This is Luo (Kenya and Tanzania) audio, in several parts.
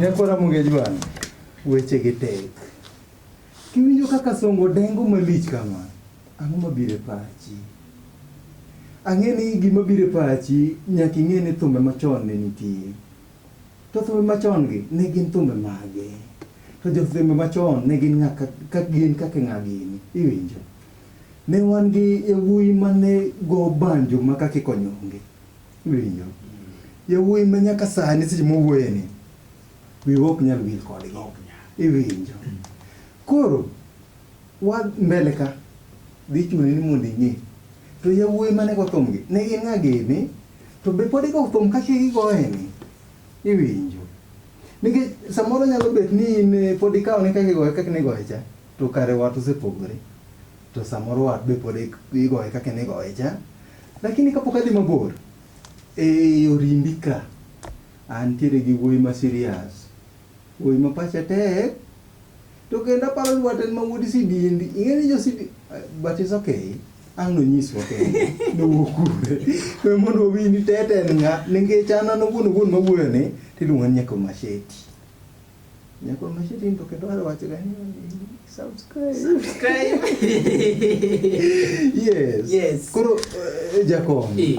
Nyako Ramogi Ajwang', weche gi tek. Kiwinjo kaka Songo dengo malich kama, ang'o mabiro e pachi? Ang'e ni gima biro e pachi nyaka ing'e ni thumbe machon ne nitie. To thumbe machon gi ne gin thumbe mage? To jothumbe machon ne gin ng'a ka gin kaka ng'a gini? Iwinjo? Ne wan gi yawuoyi mane go banjo ma kaka ikonyonge. Iwinjo? Yawuoyi ma nyaka sani seche mowuoye ni wiwa ok nyal wil kodgi. Iwinjo? Koro wa mbele ka dhi chuni ni mondo ing'e. To yawuoyi mane go thumgi ne gin ng'a gini? To be pod igo thum kaka igoye ni? Iwinjo. Nikech samoro nyalo bet ni in eh, pod ikawo ni kaka igoye kaka nigoye cha, to kare wat osepogore. To samoro wat be pod ik- igoye kaka nigoye cha. Lakini kapok adhi mabor, e orimbi ka, antiere gi wuoyi ma serious. Wuoyi ma pache tek, to kendo aparo ni wat en ma wuod sidieni. Ing'e ni jo sidieni, but it's okay. Ang' nonyiswa kende nowuok kure we mondo wawinj tete en ng'a nikech an an owuon owuon mawuoyo ni tiluongo ni nyako masheti nyako masheti to kendo ar wacho ga ni subscribe Subscribe. yes Yes. koro eh, jakom Eh.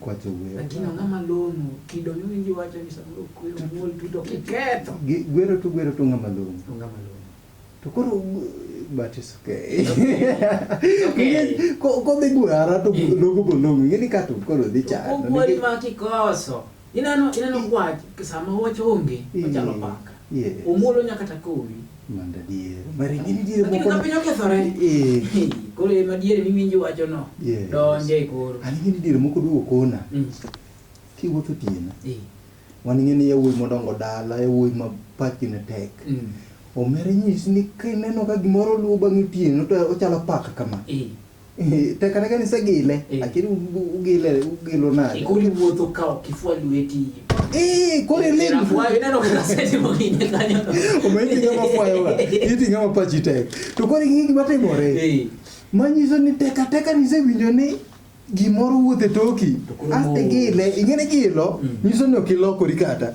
kwacho gwero. Lakini ang'o ma long'o? Kido miwinjo wacho ni samoro kwero nyuol tuto kiketho. Gi- Gwero to gwero to ng'ama long'o. To ng'ama long'o. To koro but it's okay. okay. Ko- Kodhi gwara to Eh. logo go long'o. Ing'e ni ka to koro dhi chando. Ogwali ma kikoso. Ineno ineno gwach sama wach onge Eh. ochalo paka. Yes. Omuolo nyaka ta kowi. Mano adier. Mari gin nitiere Lakini moko. ka piny okethore. Eh. Hey, Koro ema diere miwinjo wachono. Yes. Donje koro. An ing'e ni diere moko duogo kona. Mm. Kiwuotho otieno. Eh. Wan ing'e ni yawuoyi modongo dala, yawuoyi ma pachgi ne tek. Mm. Omera nyisi ni kineno ka gimoro luwo bang' otieno to ochalo paka kama. Eh. Eh, te kata ka nisegile Eh. lakini u- u- ugile ugilo nade Ikuli wuotho ka ok ifwa lweti. Eh, koro iling Inafwa- ineno kaka setimo gini kanyo. omendi ng'ama fwayoga iti ng'ama pachi tek to koro ing'e gima timore Eh, manyiso ni teka teka nisewinjo ni gimoro wuothe toki To koro aste mo- gile ing'e ni gilo Mm. nyiso ni ok ilokori kata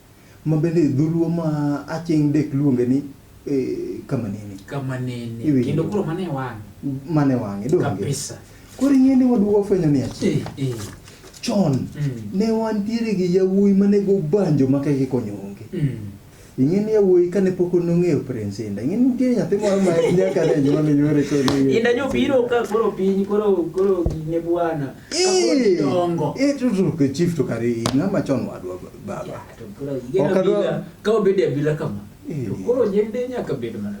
Ma bende e dholuo ma aching' dek luonge ni e, kama nene. Kama nene. Iwinjo. Kendo koro mane e wang'e. Mane e wang'e, donge? Kabisa. Koro ing'e ni waduwa ofwenyo ni achiel. Eh, eh. Chon, mm. ne wantiere gi yawuoyi mane go banjo ma keke konyo onge. Mm. ing'e ni yawuoyi kane pok nong'eyo prince inda ing'e nitie nyathi moro ma nyaka ne nyuol ne nyuol ko ni inda nyo biro ka koro piny koro koro ne bwana ka koro dongo e to to chief to kare ng'ama chon wadwa baba. Ya, to koro igeno Ok adwa- bila, ka obede abila kama. Eh. To koro nyende nyaka bed mana.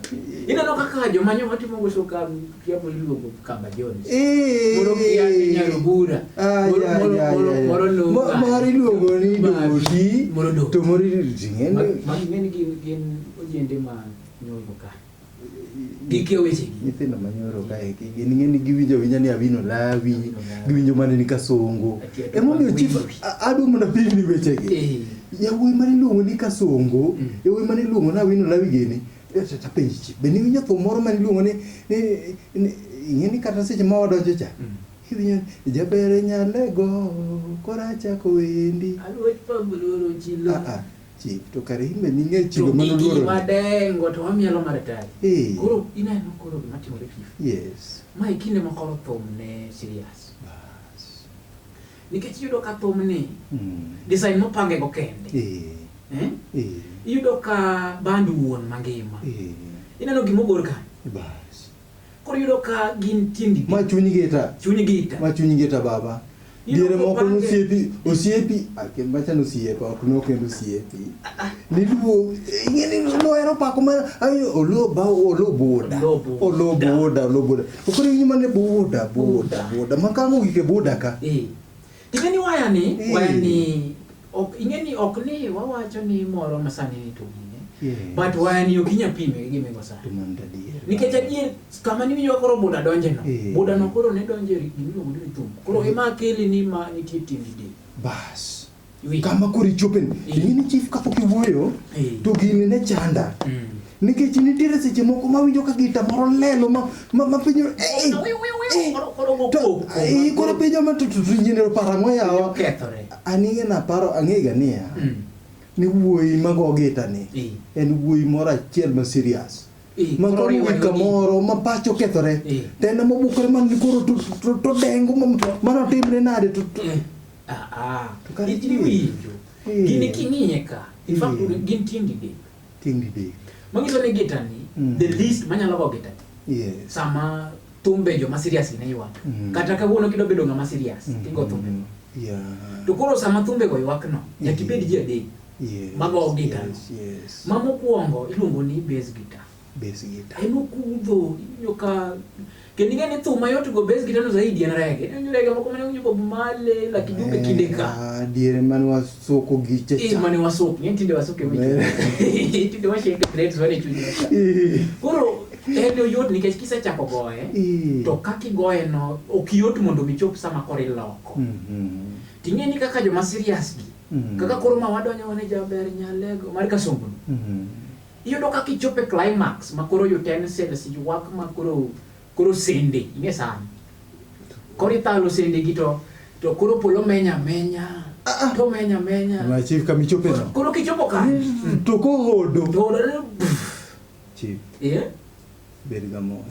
Ineno kaka joma nyoma timo go sokam kiapo iluongo Kamba Jones. Eh. Moro kia ni Nyarubura. Ah, Moro- ya, moro- ya, moro- ya, ya. moro no- Mo- moro iluongo ni Basi. doshi Moro do. to moro iluongo ni Ma- ting'e. ma- ng'eny gin gin ojende ma nyombo ka. gikia wechegi nyithindo manyoro kaeki gin ng'eni giwinjo awinja ni awino lawi giwinjo mana ni kasongo emomiyo chief adwa mondo apimni wechegi eh. yawuoyi mane iluongo ni kasongo mm. yawuoyi mane iluongo ni awino lawi gini tapenji chief be niwinjo thum moro mane iluongo ni ing'eni kata seche ma wadonjo cha mm. iwinjo jabere nyalego korachako wendi ah, ah. Chik to kare in be ning'e chido To mano gigi luoro. wadengo to wamielo maritari. Eh. Koro ineno koro gima timore chief. Yes. Ma e kinde ma koro thum ne serious. Bas. Nikech iyudo ka thum ni Mm. design mopange go kende. Eh. Eh? Eh. Iyudo ka band wuon mangima. Eh. Ineno gima ogor ka. Bas. Koro iyudo ka gin tiendi. Ma chuny gita. Chuny gita. Ma chuny gita baba. Diere moko nosiepi, osiepi, akim ah, bacha nosiepa, ok no kendo osiepi. Niluo, ingeni noero pako ma ayo olo ba olo boda. Olo boda, olo boda. Okore nyima ne boda, boda, boda. Makango gike boda ka. Eh. Ing'e ni waya ni, Eh. waya ni, ok, ing'e ni ok ni wawacho ni moro ma sani ni to gine. Yes. But waya ni ok inya pime gi gimego sani. To man gadier. Nikech adier, kama ni winjo koro buda donje no. Eh. Buda no koro ne donje ri- gima iluongo ni thum. Koro ema akili ni ma nitie tiend di. Bas. Iwinjo? Kama koro ichopen. Eh. Ing'e ni chief kapok iwuoyo, Eh. to gini ne chanda. Mm. Nikech nitiere seche moko ma winjo ka gita moro lelo ma ma ma pinyo eh eh, eh Koro- koro go to koko, eh, ma- koro pinyo ma tutu nyinero para mo yawa Okethore. anige na paro angega niya Mm. ni wuoyi ma go gita ni Eh. en wuoyi moro achiel ma serious Eh, ma koro koro riwe wika lodi. moro ma pacho kethore Eh. to en ma bukore man ni koro to- to- to- to dengo ma- mano timre nade to to- Eh, ah, ah. To kare Gini winjo. Eh. Gini king'iye ka. In fact, Eh. gin tieng' didek. Tieng' didek. Manyiso ni gita ni mm. the least manyalo go gita. Yes. Sama thumbe joma serious ne ywak. Mm. Kata kawuono kidwa bedo ng'ama serious, mm. tigo thumbe. Mm. Yeah. To koro sama thumbe go ywak no, nyaka ibed ji adek. Yes. Mago gita. Yes. yes. Ma mokwongo iluongo ni bass guitar. Bass guitar. En okudho, inyoka Kendo ing'e ni thum mayot go base gitano zaidi en rege. En rege moko mane winjo Bob Marley, Lucky Dube eh, kinde ka. Ah, diere mane wasoko gi chacha. Eh, mane wasoko, ng'e tinde wasoko mi. Eh. Tinde washake threads wane chuny. Eh. Koro en oyot nikech kisechako goye eh. to kaka igoye no ok yot mondo michop sama koro iloko. Mhm. Ting'e ni kaka joma serious gi. Mhm. Kaka koro ma wadonjo wane jaber nyalego mar kasongo. Mhm. Iyudo kaka ichopo e climax ma koro utensils ywak ma koro koro sende ing'e sani. Koro ithalo sende gi to to koro polo menya menya. Ah, ah. To menya menya. Ma chief kama ichope no. Koro kichopo ka. Mm, to ko hodo. To hodo. Chief. Yeah. Bed ga mo.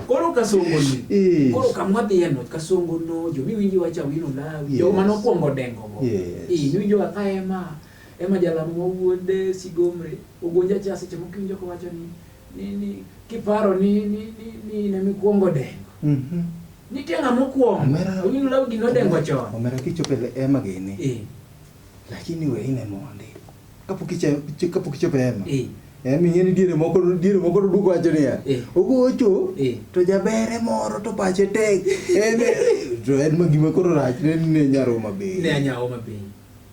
Koro kasongo ni. Koro kamwa dhi eno kasongo no jo miwinji wacha wino lawi. Jo manokuongo dengo go. Yes. Iwinjo ka ema. Emma Jalamo ma wuod Sigomre ogonja cha seche moko iwinjo kowacho ni ni ni kiparo ni ni ni ni in emikwongo dengo. Mhm. Nitie ng'ama okwongo. Omera- Owinjo law gino odengo chon. Omera kichopo e ema gini. Eh. Lakini we ine mondi. Kapok iche- iche- kapok ichopo e ema. Eh. Ema ing'e ni diere moko diere moko to duko wacho niya. Eh. Ogocho Eh. to jabere moro to pache tek. Eme to en ma gima koro rach ne ne nyaroma be. Ne anyawo mapiny.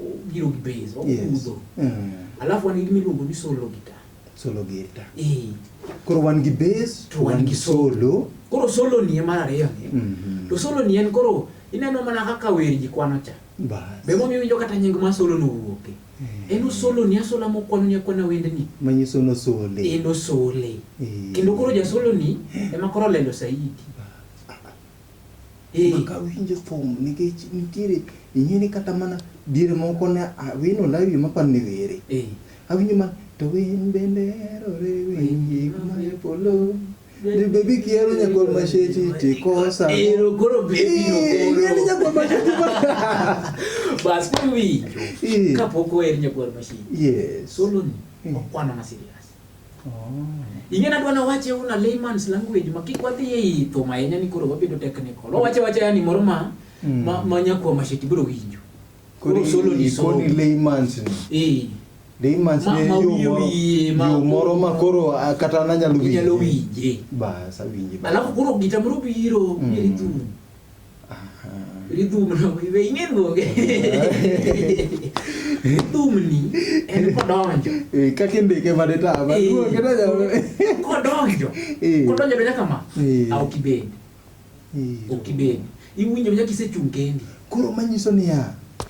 Obiro gi base, okudho. Yes. Mm. Alafu wan gi gima iluongo ni solo gita. Solo gita. Eh. Koro wan gi base to wan gi solo. Koro solo ni mar ariyo ni. Mm -hmm. To solo ni en koro ineno mana kaka wer ji kwano cha. Bas. Be momi winjo kata nying ma solo no wuoke. Eh. En osolo ni asola mo kwano ni akwana wende ni. Manyiso no sole. En osole. Eh. Kendo koro ja solo ni ema koro lendo saidi. Eka awinjo thum nikech nitiere ing'eni kata mana diere moko ne awino lawi maparo ni were. Awinjo mana to winy bende herore winy gik mae polo. Ni bebi kiero nyakol mashechi tikosa. Ero koro bebi no koro. Ing'eni nyakol mashechi ba. Bas koro winjo. Kapok oher nyakol mashechi. Yes. Solo ni okwana na serious. Ing'e nadwa nawache una layman's language ma kik wadhi e itho ma ahinya ni koro wabedo technical. Wawache wacha yani moro ma mm. ma, ma nyakwa masheti biro winjo. Koro solo ni solo. Koni layman's ni. Eh. Layman's ni yo moro. Yo moro ma koro ah, kata nanyalo winje. Nyalo winje. Bas awinje. Alafu koro gitamoro biro, mm. biro tu. Rhythm no iwe ing'e luonge. Rhythm ni en kodonjo. Eh, kaka indike mane ta ba Eh, duoke na nyalo. Kodonjo. Eh. Kodonjo donjo kama. Eh. Au kibendi. Eh, Au kibendi. Iwinjo nyaka isechung' kendi. Koro manyiso niya,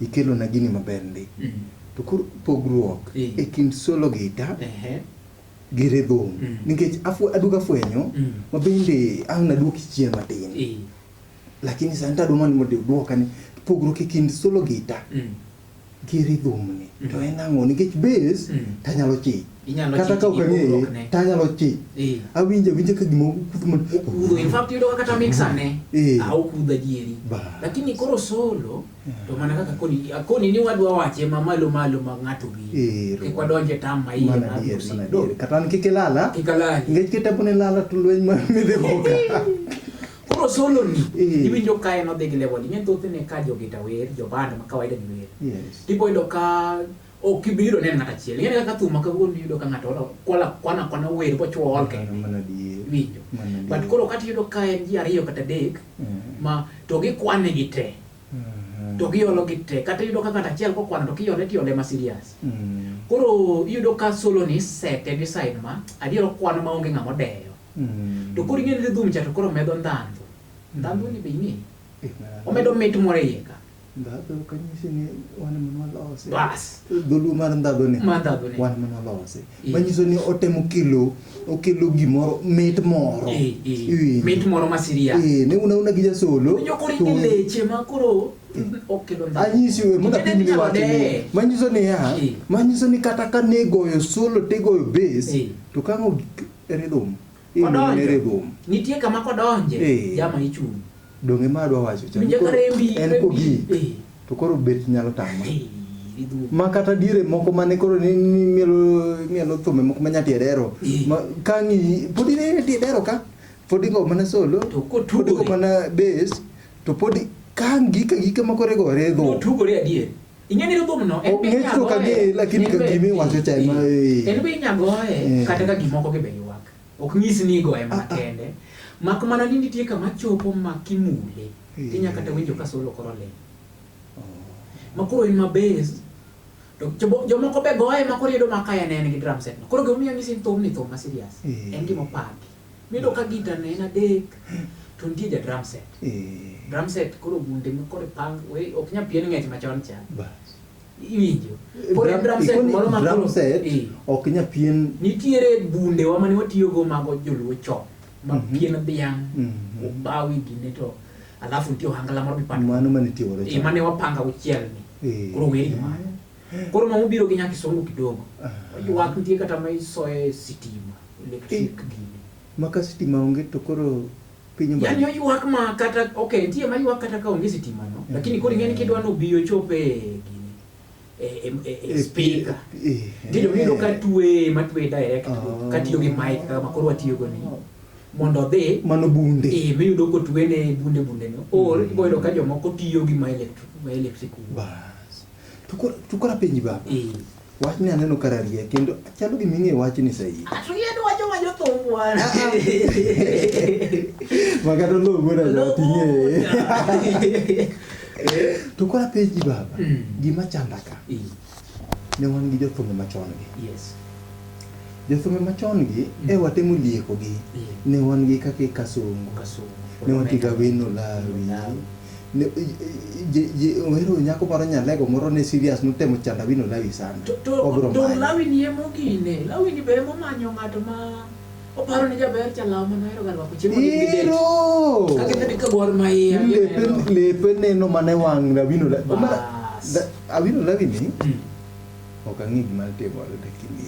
Ikelona gini maber ndi. To koro pogruok e kind solo gita gi rhythm nikech aduogo afwenyo ma bende ang' naduoki chien matin lakini sani tadwa mana mondo iduoka ni pogruok e kind solo gita gi rhythm ni to en ang'o nikech bass tanyalo chich kata ka ok ang'eye tanyalo chich awinjo awinja ka gima okudho man okudho in fact yudo kata mix ane okudho adieri lakini koro solo to mana kaka koni koni ni wadwa wache ma malo malo ma ng'ato gi kik wadonje tam ma iye ma adier mana adier kata an kik ilala kik alala ngech kitabu ne lala to lweny ma midhi hoka koro solo ni iwinjo ka en odhi gi level ing'e thothne ka jogita wer joband ma kawaida gi wer yes tiboyudo ka Ok ibi yudo nen ng'ato achiel. Ing'eyo kaka thum ma kawuono iyudo ka ng'ato olo kwala kwana kwana wer bochwo ol kende. Mano adier. Winjo. Mano adier. But koro kata iyudo ka en ji ariyo kata adek Mhm. ma to gikwane gi te. Mhm. To giolo gi te. Kata iyudo ka ng'ato achiel kokwano to kiole tiole ma serious. Mhm. Koro iyudo ka solo ni sete gi side ma adier okwano ma onge ng'ama odeyo. Mhm. To koro ing'e ni dhum cha to koro medo ndhandhu. Ndhandhu ni be ing'e. Eh, mano- Omedo mit moro e iye ka. Ndhadho ok anyisi ni wan ema nwalose. Bas. Dholuo mar ndhadho ni. Mar ndhadho ni. Wan ema nwalose. Eh. Manyiso ni otemo kelo okelo gimoro mit moro. Eh, eh. Iwinjo? Mit moro ma siria. Eh, ne una una gi jasolo. Jokori to- ni leche ma koro okelo ndhadho. anyisi we mondo Kendo apim ni inyalo wach ni deye. manyiso ni ya Eh. manyiso ni kata ka ne goyo solo te goyo base Eh. to kang'o ridhum Odonjo. Nitie kama kodonje, eh. jama ichung'. Donge ma adwa wacho cha. En kogik. Eh. To koro bet nyalo tama. Eh, ma kata diere moko mane koro ni mielo mielo thume moko ma nyati edero ma kangi podi ne ti edero ka podi go mana solo to ko tugo mana bass to podi kangi ka gike moko regore go tugo re adier Ing'e ni thumno en be Ng'ech ok ang'e inyagoye. lakini in be- kagima iwacho cha ema, eh. En be inyagoye Eh. kata ka gimoko gi be ywak. Ok nyis ni igoye mana Ah, ah. kende. Mak mana ni nitie kama chopo ma kimule. Eh. Tinya kata winjo ka solo koro ling'. Ma koro en ma base. To jobo- jomoko be goye ma koro iyudo ma kaya ne en gi drum set no. Koro gimomiyo nyisi ni thumni thum ma serious. Eh. En gima opaki. Miyudo ka gita ne en adek to nitie ja drum set. Eh. Drum set koro gunde ma koro pang we ok nya pien ng'ech machon cha. Iwinjo. Koro drum set moro ma drum set eh. ok nya pien. Nitiere bunde wa mane watiyo go mago joluo chon ma mhm. pien dhiang' mhm. obawi gine to alafu nitie ohangala moro mipando. Mano mane tiwore. Eh, mane wapanga uchiel ni. Eh. Koro weri mano. Koro mama obiro gi nyaka isomo kidogo. Ywak nitie kata ma isoye sitima, electric gini. Maka sitima onge to koro piny mbali. Yaani oywak ma kata okay, nitie ma ywak kata ka onge sitima no, eh. lakini koro ing'eni kidwa no biyo chope gini. E, e, e, e eh, speaker. Eh, Ndio mino ka tuwe ma tuwe direct oh. ka tiyo gi mic kama koro watiyo go ni. Oh. mondo odhi mano bunde eh miyudo kotwene bunde bunde no or mm. iboyudo ka jomoko tiyo gi ma electric ma electric bas To koro to koro apenji baba. Eh. Wachni aneno ka rarie kendo chalo gima ing'eyo wachni sahihi. Atuyeni wacho ma jothum wan. Ma kata oloo wuod ajot ing'eye. To koro apenji baba, Mm. gima chanda ka, Eh, ne wan gi jothumbe machon gi. Yes. Jothumbe machon gi, Mm. e watemo lieko gi. Eh, Ne wan gi kaka Kasongo, Kasongo. ne wan gi Gawino Lawi, Lawi. Ne- je- je- je- ohero nyako moro nyalego moro ne serious notemo chando awino lawi sana To- to- obiro to manye lawi ni emo gine lawi ni be emo manyo ng'ato ma oparo ni jaber chalawo mano hero galwako chiemo ni gidate. ero Kaka kadi ka gwar ma iye lepe gineno. lepe neno mana e wang' awino lawi Bas. Omara, da- awino lawi ni Mm. ok ang'e gima timore lakini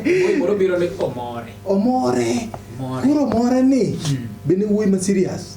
Wuoyi moro biro ni omore omore More. koro omore ni Mm. bende wuoyi ma serious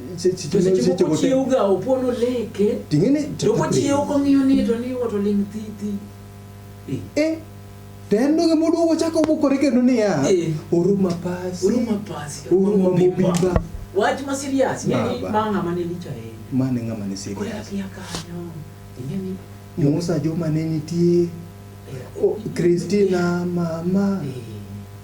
tosechiwokochiewoga opon oleke to kochiewo kong'iyo ni to ni woto ling' thi thi eh. tendo gi mudu ko chako bukore kendo niya eh. uruma pasi uruma pasi uruma mubimba wach ma serious ni ma ngama ne licha e ma ne ngama ne serious kore akia kanyo ingeni Musa joma ne nitie eh. Kristina mama eh.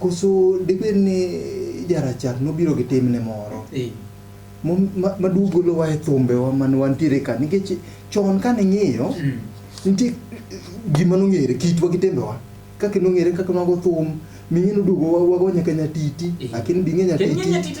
Koso dibed ni jarachar nobiro gi timne moro eh. maduogolowa e thumbewa mane wantiere ka nikech chon kane ing'iyo mm. nitie gima nong'ere kitwa gi timbewa kaka nong'ere kaka mago thum ming'e noduogo wago nyaka nyatiti lakini bing'e nyatiti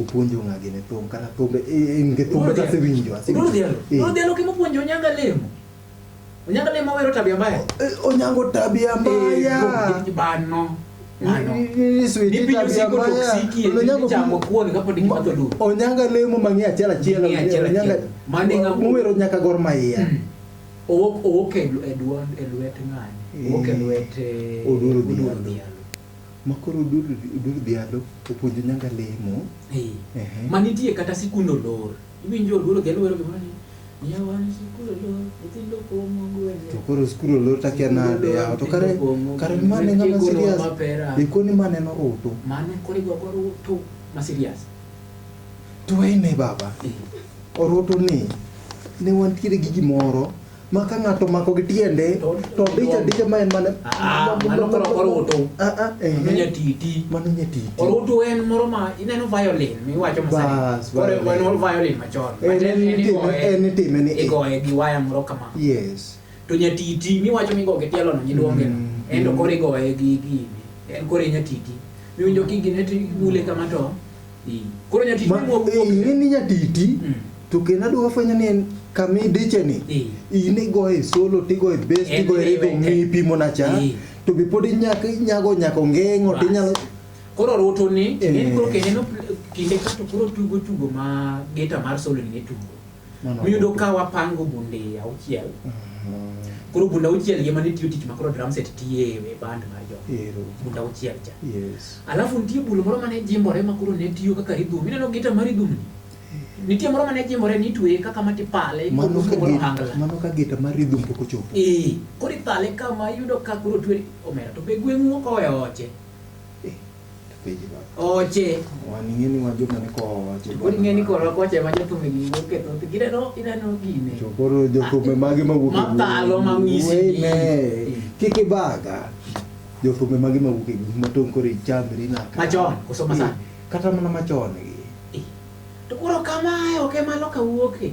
Opuonjo ng'a gini thum kana thumbe in gi thumbe ka sewinjo asewinjo. Dolo dhialo kimo puonjo nyanga lemo. Onyango lemo wero tabia mbaya. Onyango tabia mbaya. Bano. Onyanga lemo mang'e achiel achiel mowero nyaka gor maiya owok e lwet ng'ani owok e lwet oduoro dhialo Makoro odur odur dhialo opuonjo nyanga lemo. Eh. Ehe. Ma nitie kata sikund olor. Iwinjo oluoro dhialo wero gimoro ni. Miya wan sikund olor, nyithindo pong'o gwenge. To koro skul olor takia nade yawa to kare kare mane ng'ama serious. Ikoni mane noruto. Mano koro igo go ruto ma serious. To wayne baba. Eh. Oruto ni ne wantiere gi gimoro ma ka ng'ato omako gi tiende to dicha dicha ma en mana ah, mano koro orutu ah, ah, eh, mano eh. nyatiti mano nyatiti orutu en moro ma ineno violin miwacho masani koro en ol violin machon en itime ni igoye gi waya moro kama yes to nyatiti miwacho migo gi tielono nyiluonge mm, en to mm. koro igoye gi gini en koro nyatiti miwinjo kigine to ibule kama to Koro nyatiti ma wuok eh, ing'e ni nyatiti mm. to kendo adwa fwenyo ni en kama idiche ni eh. in igoye solo tigoye bes tigoye rego ng'i pimo na cha eh. to be pod inyako inyago nyako ng'eng'o to inyalo koro roto ni koro kendo kinde kato koro tugo tugo ma geta mar solo ni tugo Miyudo ka wapango bunde auchiel. Mm-hmm. Koro bunda auchiel yema ni tiyo tich makoro drum set tiye e band mar jo. Bunda auchiel cha. Yes. Alafu nitie bul moro mane jimbore makoro ne tiyo kaka rhythm. Mineno gita mar rhythm ni. Nitie moro mane jimbore ni tuwe kaka mati pale. Mano ka gita, mano ka gita mar rhythm poko chopo. Eh, kori pale kama yudo ka koro tuwe omera to be gweng'u okowe oche. Oche. Waning'e ni wan joma ni kowa. Pod ing'e ni korwa kocha ema jothum gi wuok e thoth gineno ineno gine. To koro jothum mage ma wuok e gweng'. Mapalo ma ng'isi. Wene. Kik ibaga. Jothum mage ma wuok e gweng' ma tong' koro ichandri naka. Machon koso masani. Kata mana machon gi. To koro kamae ok ema loka wuoke.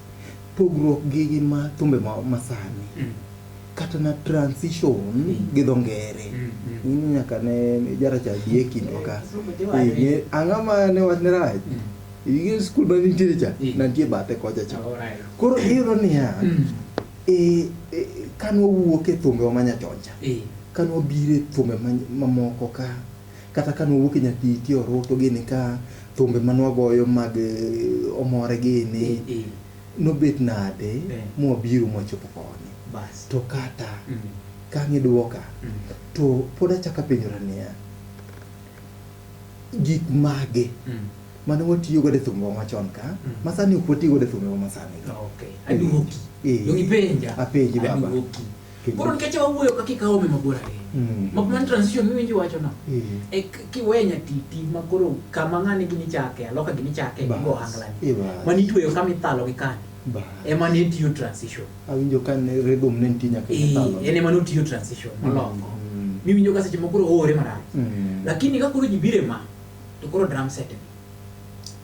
pogruok gi gin ma thumbe ma masani mm. kata na transition mm. gi dho ngere mm, mm. in nyaka ne jaracha bi e kindwa ka eh, ang'a ma ne wach ne rach mm. igin skul ma nitiere cha mm. nantie bathe kocha cha oh, right. koro iyudo niya mm. e, e, kanwawuok e thumbewa manyachoncha mm. kanwabire thumbe mamoko ma ka Kata ka nwawuok e nyathi ti orutu gini ka thumbe ma nwagoyo mag eh, omore gini Eh, eh. nobet nade Eh. mwabiro mwachopo koni Bas. to kata Mm. kang'i dwoka Mm. to pod achaka penjora niya gik mage Mm. mane watiyo godo e thumbewa machon ka Mm. ma sani ok watiyo godo e thumbewa ma sani ka Okay. Aduoki. Eh. Dongipenja. Apenji baba. Aduoki. Koro nikech wawuoyo ka kikawo me mabor ahinya. Mm. Mok man transition miwinji wacho no. Mm. E kiwe nyatiti ma koro kama ng'ani gini chake, aloka gini chake, gigo hangla ni. Mani tueyo kama ithalo gi kani. Ema ne tiyo transition. Awinjo ka ne rhythm ne nitie nyaka ithalo. Ee, en ema ne otiyo transition mm, malongo. Mm. Miwinjo ka seche mokoro oore marach. Mm. Lakini ka koro jibire ma, to koro drum set ni.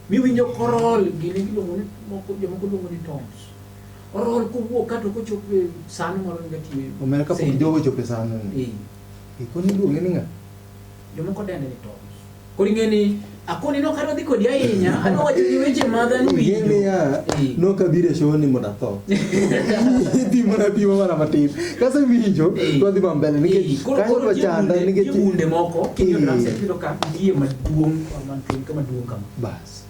Miwinjo korol gini giluongo ni moko jomoko luongo ni tones. orol kowuok kato kochopo e sano moro ni gatiyo omera ka pok jogo chopo e sano ni ikoni duoge ni nga jomoko dende ni to kori ng'e ni akoni no karo dhi kodi ahinya ano wacho ni weche madha ni winjo ng'e ya no ka bire show ni moda tho ti mana ti mana matin kasa winjo to dhi mambele ni ke kayo kwa chanda ni ke ti munde moko kinyo na se pilo ka ndiye maduong' maduong' kama bas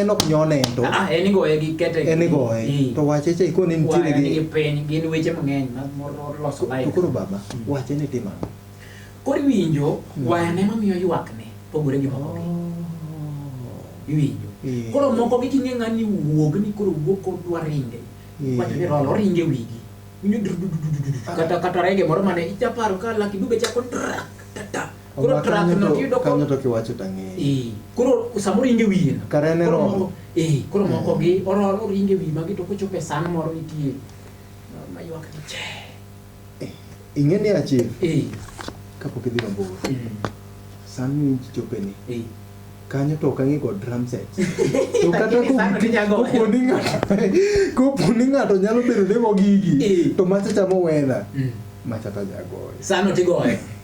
en ok nyone ento ah, en igoye gi kete en igoye eh. to wache cha ikone nitiere gi piny gin weche mang'eny moloso life to koro baba hmm. wache ni timo ang'o koro iwinjo hmm. wayane mamiyo ywak ne pogore gi moko oh. iwinjo eh. koro moko gi king'e ng'ani wuog ni koro wuog kod dwa ringe eh. wacho ni rolo ringe wigi winjo kata kata rege moro mane ichaparo ka laki dube chako trak tata Koro Oba track kanyo no to- tiyudo ko- kanyo to kiwacho to ang'eyo Eh, koro samoro inge wiye na. Kare en e Koro roho. moko- eh, koro Eh. moko gi ororo oringe wiye magi to kochopo e san moro nitie ma- maywak ni che ing'e ni achiel eh, kapok idhi mabor mm, san miwinj chopeni eh. kanyo to ok ang'e kod drum set to kata Lakini ko- sano ninya goyo. kopo ni ng'ato kopo ni ng'ato nyalo bedo ni Eh. mogigi to macha chamo wedha Mm. macha ta jagoyo sano tigoye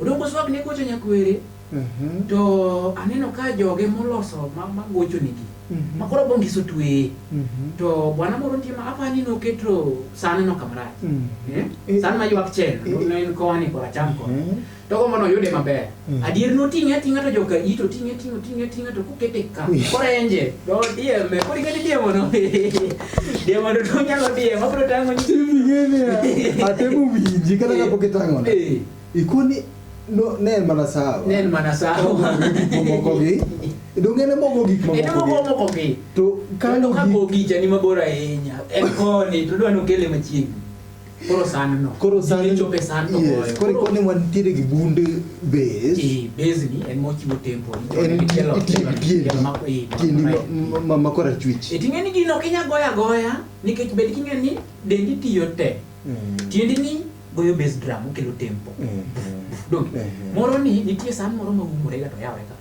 Odoko oswak ne gocho nyakwere mhm. to aneno ka joge moloso ma, ma gocho nigi mm -hmm. makoro bongiso tweye mm -hmm. to bwana moro nitie ma apani noketo sane no kamrach mm -hmm. eh? eh sane maywak chen eh, eh. noen koni kora cham koni mm -hmm. to gomo noyude maber mm -hmm. adier noting'e ating'a to joka ito ting'e ting'o ting'e ting'e to kokete ka korenje to dieme kori kadi diemo no Dia mau duduknya lo dia, mau perlu tangan. Ini gini ya. Ada mau biji kan nggak pakai tangan. Iku nih no nen mana sawa. Nen mana sawa. Mau kopi. Dong ene mau kopi. Ene mau kopi mau kopi. Tuh kan kopi jadi mau borainya. Ekoni, tuh dua nukele macam. Koro sandno. Koro sandno. Gige chopo e sandno Yes, goyo. koro ikone wantiere gi bund base. Eh, base ni en mochiwo tempo. En Ichone tielo- itiyo tielo- gi tiendi. tielo mako- eh, mako Tiendi right. ma- ma- ma korachwich. E ting'e ni gino ok inyal goyo agoya nikech bed king'e ni dendi tiyo te. Tiendi ni goyo bass drum okelo tempo. Donge? Moro ni nitie san moro ma umore ga to yawore ka.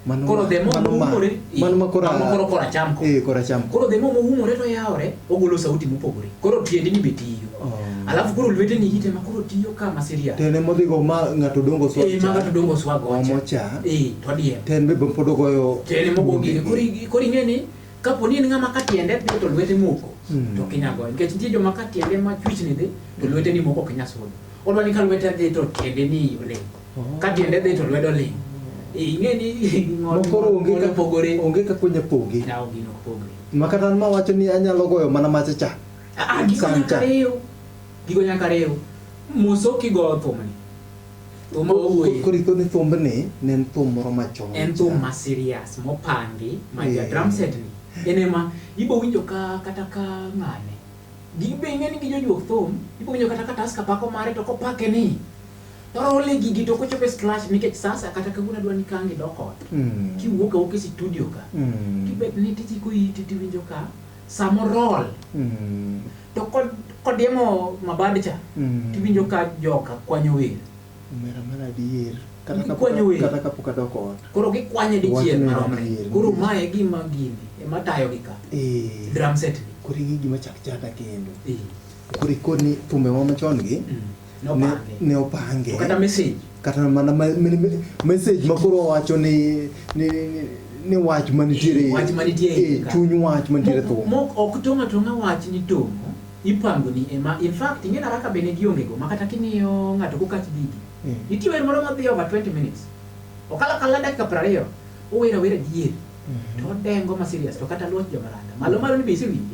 Mano koro ma- the more mano ma- moumore eh, mano ma kora- mano koro koracham ko Eh, koracham ko. koro the more moumore to yawore ogolo sauti mopogore koro tiendeni be tiyo Oh. alafu koro lweteni ite ma koro tiyo ka ma serious Tene modhigo ma ng'ato dongo swag eh cha, maga to dongo swago omo cha, eh to dier ten be pod ogoyo tiende moko gire koro ing- koro ing'e ni kapo ni en ng'ama ka tiende dhi to lwete moko Mm. to kinya goyo nikech nitie joma ka tiende ma chwichni dhi to lweteni moko ok nya sudo odwa ni ka lwete dhi to tiendeni olemo Ka tiende dhi to lwedo ling'. Eh, Ing'e ni ng'ol Mokoro onge ng'ol ka- opogore. onge kaka onya poge. Yaw gino opogore. Ma kata an mawacho ni anyalo goyo mana macha cha. Ah, ah, gigo Sam nyaka cha. riw. Gigo nyaka riw. Moso kigoyo thumni. Thum owuoye. Koro iko ni thumbni ne en thum moro machon. en thum ma serious mopangi ma ja Yeah. drum set ni en ema ibo winjo ka kata ka ng'ane gibe ing'e ni gijojuok thum ibo winjo kata ka taska pako mare to kopake ni Parole gigi to kochopo e scratch nikech sasa kata kawuono adwa ni kangi dok ot. Mm. Kiwuok awuok e studio ka. Mm. Kibet ni tiji ko iti tiwinjo ka samo roll. Mm. To kod kodiemo mabad cha mm. tiwinjo ka joka kwanyo wer. Omera mana adier. Kata kapwanyo wer. Kata kapok adok ot. Koro gikwanye dichiel maromre. Koro mae gima gini ema tayo gi ka. Eh. Drum set. Koro gigi machak chata kendo. Eh. Koro ikoni thumbe wa machon gi. Mm. ne, ne opange To kata message. kata mana ma- me- me- message makoro owacho ni ni, ni, ni wach manitiere Wach manitiere e ei ka. chuny wach manitiere Mo- thum mo- ok tong' atong'a wach ni tong' ipango ni ema in fact ing'e na kaka bende gionge go ma kata kimiyo ng'ato kokach digi Mm. nitie wer moro madhi over 20 minutes okala kala dakika piero ariyo owera wera dier to odengo ma serious to kata luoch jomaranda malo malo ni be isewinje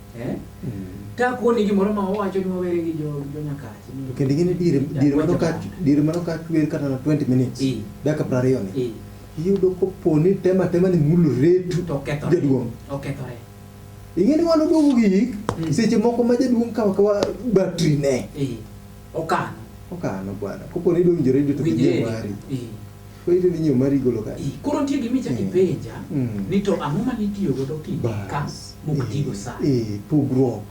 Eh? Mm. Ka kuoni gimoro ma owacho ni wawere gi jo jo nyakache. Kendo gini dire dire mano ka dire mano ka chwer kata na 20 minutes. Dakika 20 ni. Iyudo ko poni tema tema ni mulu retu to ketho. Jaduong. Okethore. Ingeni wano dogo gi mm. seche moko ma jaduong kawa kawa battery ne. Okano. Okano bwana. Koponi donjore to kijiwari. Winjore. Weche ni nyuma rigolo ka. Koro nitie gima ichako ipenja ni to ang'o mane itiyo godo ki ka mok tigo sa. Eh, pugruok.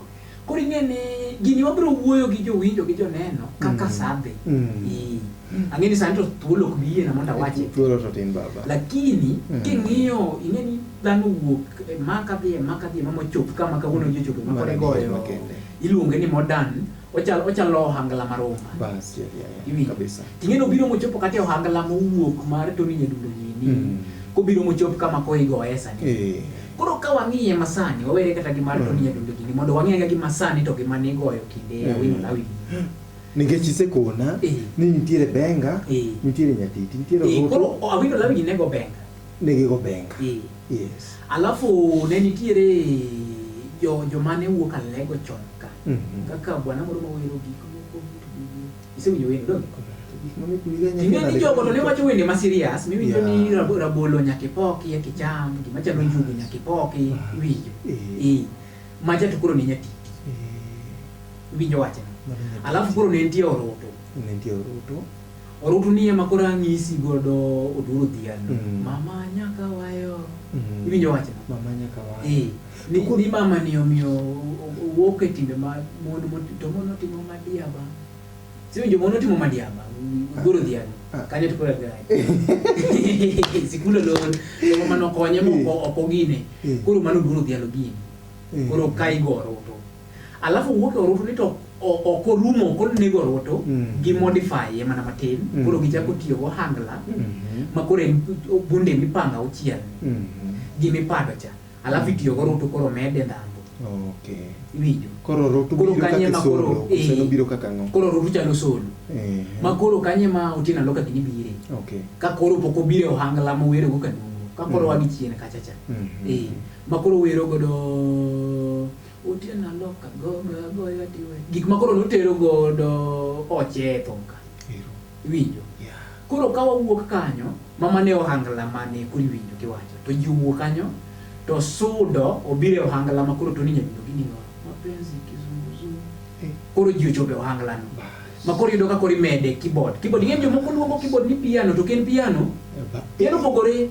Koro ing'e ni gini wabiro wuoyo gi jowinjo gi joneno kaka sa dhi. Eh. Ang'e ni sani to thuolo ok bi yiena mondo awache. Thuolo to tin baba. Lakini king'iyo ing'e ni dhano wuok e ma kadhi e ma kadhi e ma mochop kama kawuono ji ochope ma koro igoyo iluonge ni modern Ochalo ochalo ohangla maromba. Bas, yeah, yeah, yeah. Iwinjo? Kabisa. Ting'eno biro mochopo kata e ohangla mowuok mar Tony Nyadundo gini. Mm. Kobiro mochop kama koigoye sani. Eh. Koro ka wang'iye masani, wawere kata gi mar Mm. Tony Nyadundo gini mondo wang'e ga gi masani to gi mane igoyo kinde Mm. Awino Lawi. Nikech isekona Eh. ni nitiere Benga, Eh. nitiere Nyatiti, nitiere Eh, Ruto, Koro Awino Lawi gi nego benga. negigo Benga. Eh. Yes. Alafu ne nitiere jo jomane wuok alego chon ka. Mm -hmm. Kaka bwana moro mawero gik moko vitu vingi. Isewinjo wendo dong? Ing'e ni jogo to ne wacho wende ma serious miwinjo yeah. ni rab, rabolo nyaka ipoki ya kicham gima chalo njugu nyaka ipoki iwinjo. Eh. eh. Maja to koro ne nyati. Eh. Iwinjo wachno. Alafu koro ne nitie oroto. Ne nitie oroto. Orutu ni ema koro ang'isi godo oduro dhiang'. Mm. Mama nyaka wayo. Mm. Iwinjo wachno? Mama nyaka wayo. Eh. Ni, ni mama ni omiyo wuok e timbe ma mon to mon otimo madiaba. Si winjo mon otimo madiaba. Goro dhiang'. Ah. Kanye to kora gai. Sikulo lon. Ema mano konye moko eh. okogine. Eh. Koro mano goro dhiang' gini. Eh. Koro kai goro. alafu wuok e orutu ni to ok orumo koro nego orutu mm. gi modify ye mana matin mm. koro gichako tiyo go hangla mm-hmm. ma koro bunde mipanga uchiel mm-hmm. gi mipado cha alafu mm. itiyo go orutu koro mede ndhambo okay. iwinjo koro orutu koro kanye ma koro eh, biro kaka ngo koro orutu chalo solo eh. ma koro kanye ma utina loka gini bire okay. ka koro poko bire ohangla mo wero go kanungo ka koro mm. wagi chien kacha cha mm-hmm. eh. ma koro wero godo Otieno alok agoyo agoyo adiwe. Gik ma koro notero godo oche e thum ka. Iwinjo? Koro ka wawuok kanyo, mama ne ohangla mane kuri winjo kiwacho. To ji owuok kanyo, to sudo obiro e ohangla ma koro Tony Nyadundo gi ning'o. Mapenzi kizunguzungu. Eh. Koro ji ochopo e ohangla no. Ma koro yudo ka koro imede keyboard. Keyboard, ing'e jomoko luongo keyboard ni piano, to ok en piano. Eh, Piano opogore.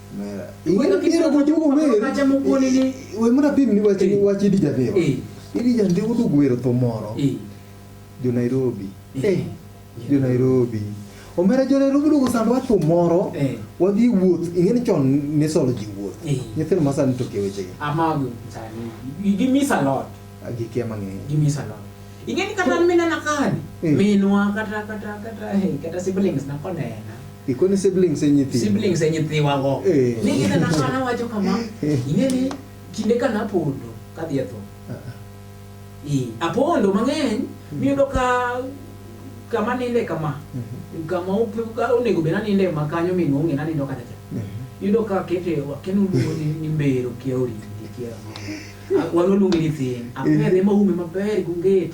wemunapim ni wach idi jadheo idi jande udug wero tho moro jo nairobi jo nairobi omera jo nairobi dugo sando wach tho moro wadhi wuoth ing'e ni chon nisolo ji wuoth nyithindo masani toke wechegi gikia mang'eny ing'e ni kata minana kani minwa kata kata kata siblings nakonena Ikoni siblings e nyithi. Siblings e nyithiwa go. Eh. Ni gina na kana wacho kama. Ing'e ni kinde ka napondo kadhi e tho. Eh, apondo mang'eny miyudo ka kama ninde kama. Mhm. Kama ope- ka onego bed naninde ma kanyo min onge nanindo kata cha. Mhm. Yudo ka kete wakenu luongo ni ni mbero kia oriti kia. Wano luongo ni thin. Apedhe ma ume maber gungeti.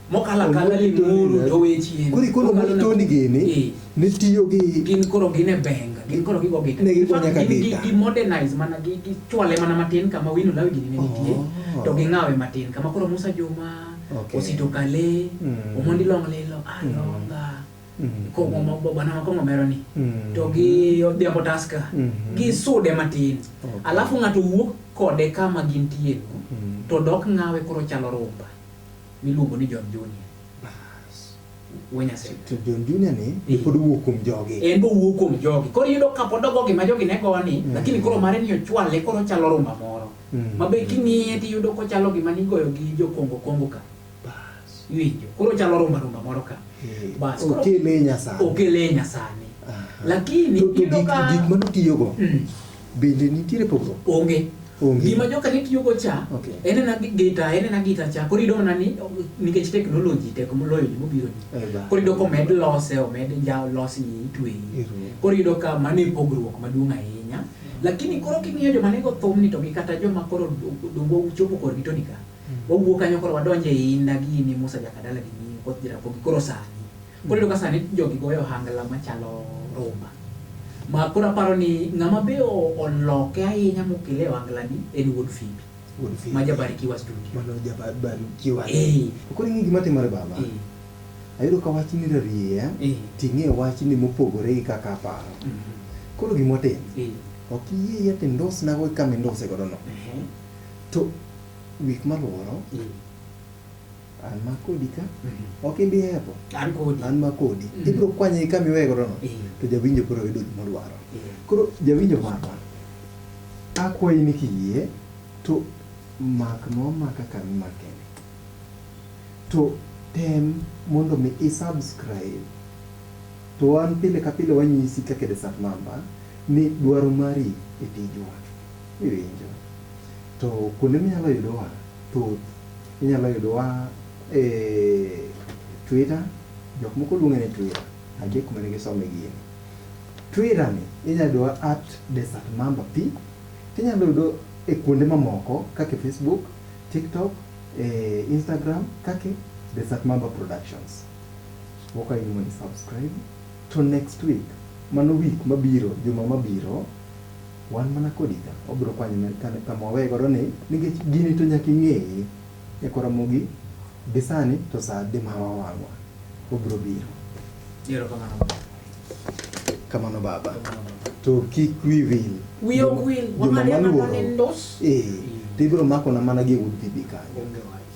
mokalo akala limuru to we chien kuri kono ma toni gini eh. ne tiyo gi gin koro gin e benga gin koro gigo gita ne gigo nyaka gita gi modernize mana gi gi chwale mana matin kama wino lawi gini ne oh. nitie to gi ngawe matin kama koro Musa Juma okay. osito kale mm. omondi long lilo alonga ah, mm. mm. ko mo bo bana ma ko mo meroni mm. to gi odhiambo taska mm -hmm. gi sude matin okay. alafu ngato wuok kode kama gintie mm. to dok ngawe koro chalo rumba miluongo ni John Junior. Bas. We Nyasaye. To John Junior ni Eh. pod owuok kuom jogi. En bowuok kuom jogi. Koro iyudo ka pod ogo gima jogi ne goni, Mm. lakini koro mare ni ochwale koro chalo rumba moro. Mm. Ma be king'iye tiyudo kochalo gima nigoyo gi jokongo kongo ka. Bas. Iwinjo. Koro chalo rumba rumba moro ka. Eh, Bas, koro- Okele nyasani. Okele nyasani. Aha. Lakini To- to iyudo gik- ka- gik manotiyogo Mm. Bende nitiere pogruok? Onge. Onge. Gima joka ne tiyogo cha, Okay. en ena gi- gita, en ena gita cha. Koro iyudo mana ni o- nikech teknoloji tek moloyo gima obiro ni. Eh, ba. Koro iyudo ka omed lose, omed ja losni itweyi. Iruwo. Koro iyudo ka mano e pogruok maduong' ahinya. Lakini koro king'iyo joma nego thumni to gi kata joma koro do- dongo chopo korgi to nika. Wawuok kanyo koro wadonje inda gini Musa Jakadala gi Nyinyo koth Jaramogi koro sani. Koro iyudo ka sani jogi goyo ohangla machalo rumba. Ma koro aparo ni ng'ama be oloke ahinya mokele e ohanglani en wuod Fimbi. Wuod Fimbi. Ma Jabarikiwa studio. Mano Jabarikiwa. Eh. Koro ing'e gima timore baba? Eh. Ayudo ka wachni rariya, eh. ting'e wachni mopogore gi kaka aparo. Mm -hmm. Koro gima otim, eh. ok iyie yet indusnago e kama induse godo no. Eh. To week maluoro, eh. an ma kodi ka ok ibi hepo an kodi an ma kodi Mm. ibiro kwanye gi kama iweye godono Eh. to jawinjo koro yudo gima odwaro Eh. koro jawinjo marwa akwayi ni kiyie to mak nomaka kama imakeni to tem mondo mi isubscribe to wan pile ka pile wanyisi kaka e desat mamba ni dwaro mari e tijwa iwinjo to kuonde minyalo yudowa Thuth inyalo yudowa e Twitter, jok moko luonge ni Twitter, nitie kuma ne gisome gini. Twitter ni inyalo yudowa at Desert Mamba P, tinyalo yudo e kuonde mamoko kaka e Facebook, TikTok, e Instagram kaka Desert Mamba Productions. Wakwayi ni mondo i subscribe to next week, mano week mabiro, juma mabiro, Wan mana kodi ka. Wabiro kwanyo ne kane kama waweye godo ni nikech gini to nyaka ing'eye. Nyaka waramogi gi sani to saa adi ma wawang'wa. Wabiro biro. Erokamano baba. Kamano baba. To kik wi wil. Wiya ok wil. Joma Wang'ane mana maluoro. ni ndos. Ee. To ibiro makona mana gi e wuod PB kanyo. Onge wach.